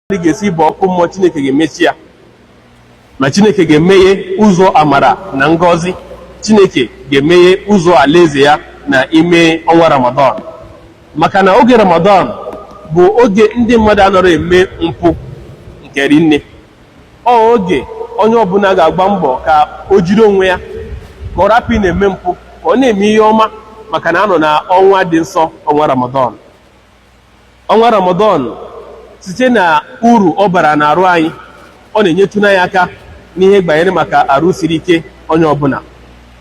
mmadụ ga-esi baa ọkụ mmụọ Chineke ga-emechi ya ma Chineke ga-emeghe ụzọ amara na ngọzi Chineke ga-emeghe ụzọ alaeze ya na ime ọnwa Ramadan maka na oge Ramadan bụ oge ndị mmadụ anarọ eme mpụ nke rinne ọ oge onye ọbụla ga-agba mbọ ka o jiri onwe ya ka ọ rapụ na-eme mpụ ka ọ na-eme ihe ọma maka na a nọ na ọnwa dị nsọ ọnwa Ramadan ọnwa ramadan site na uru ọ bara n'arụ anyị ọ na-enyetụnụ anyị aka n'ihe gbanyere maka arụ siri ike onye ọbụla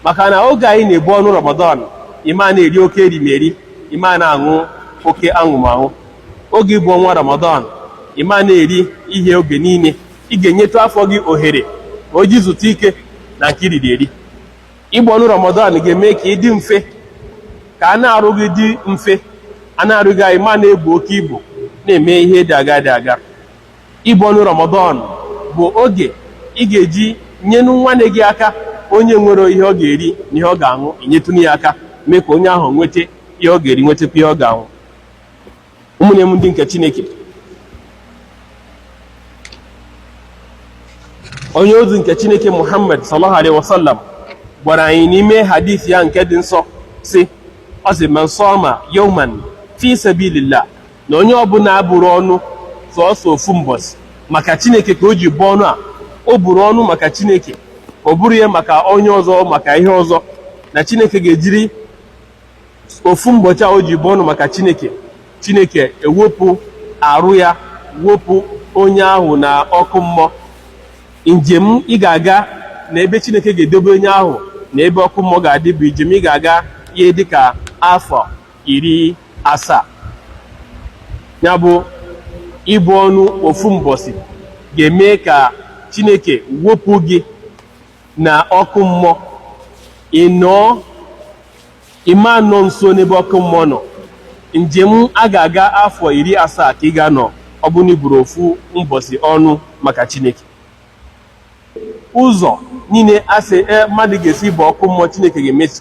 maka na oge anyị na-ebu ọnụ ramadan ị ma na-eri oke erimeri ị ma na-aṅụ oke aṅụmaṅụ oge ịbụ ọnwa ramadan ị ma na-eri ihe oge niile ị ga-enyetụ afọ gị ohere ka o ji zutu ike na nke i riri eri Ibu ọnụ Ramadan ga-eme ka ị dị mfe ka anụ arụ gị dị mfe anụ arụ gị anyị ma na-ebu oke ibu na-eme ihe dị aga dị aga ibu ọnụ Ramadan bụ oge ị ga-eji nyenụ nwanne gị aka onye nwerọ ihe ọ ga-eri na ihe ọ ga-aṅụ i nyetụnụ ya aka mee ka onye ahụ nweta ihe ọ ga-eri nwetakwa ihe ọ ga-aṅụ ụmụnne m ndị nke chineke onye ozi nke chineke muhammad sallallahu alaihi wasallam gwara anyị n'ime hadith ya nke dị nsọ sị ọ sị man sama yawman fi sabilillah na onye ọbụla buru ọnụ sọsọ ofu mbọsị maka chineke ka o ji buo ọnụ a o buru ọnụ maka chineke o burọ ya maka onye ọzọ maka ihe ọzọ na chineke ga-ejiri ofu mbọchị a o ji buo ọnụ maka Chineke Chineke ewepụ arụ ya wepụ onye ahụ na ọkụ mmụọ njem ị ga-aga na ebe Chineke ga-edobe onye ahụ na ebe ọkụ mmụọ ga-adị bụ njem ị ga-aga ihe dịka afọ iri asaa ya bụ ibu ọnụ ofu mbọsị ga-eme ka Chineke wepụ gị na ọkụ mmụọ ị nọọ ị ma anọ nso n'ebe ọkụ mmụọ nọ njem a ga-aga afọ iri asaa ka ị ga-anọ ọ bụrụ na i buru ofu mbọsị ọnụ maka Chineke ụzọ niile a sị e mmadụ ga-esi baa ọkụ mmụọ Chineke ga-emechi